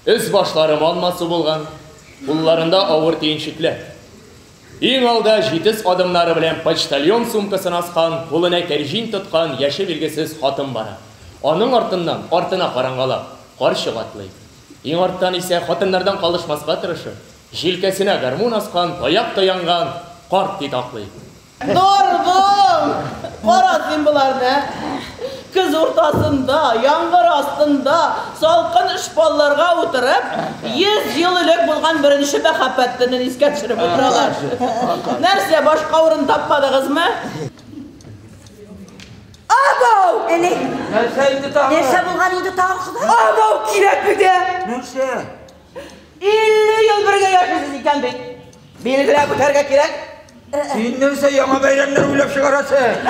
Өс-башлары мал-масу булган, кулларында авыр төенчекләр. Иң алда җитез адымнары белән почтальон сумкасын аскан, кулына кәрҗин тоткан яше билгесез хатын бара. Аның артыннан, артына карангалап, карчык атлый. Иң арттан исә, хатыннардан калышмаска тырышып, җилкәсенә гармун аскан, таяк таянган карт титаклый. Норгул! Кара син боларны! Көз уртасында, яңгыр астында, салкын шпалларга утырып, йөз ел элек булган беренче мәхәббәт төнен искә төшереп утыралар. Нәрсә, башка урын тапмадыгызмы? Абау! Әне! Нәрсә инде тагы? Нәрсә булган инде тагы Ходай? Абау кирәк бит! Нәрсә? 50 ел бергә яшисез икән бит. Билгеләп үтәргә кирәк. Син нәрсә яңа бәйрәмнәр уйлап чыгарасың?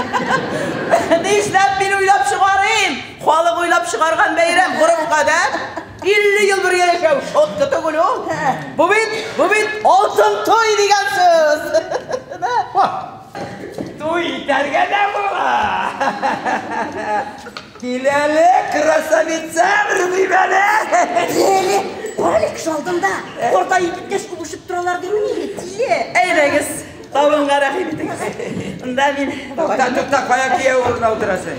Нишләп мин уйлап чыгарыйм? Халык уйлап чыгарган бәйрәм гореф гадәт. 50 ел бергә яшәү шотты түгел ул. Бу бит, бу бит алтын туй дигән сүз. Туй итәргә дә була. Кил әле, красавицам, Рубим әле! Әле, Алекс алдында, орда егеткәч күбешеп торалар димени, тиле! Әйдәгез, табынга рәхим итегез. Монда мин... Тукта, тукта, кая кияү урына утырасың?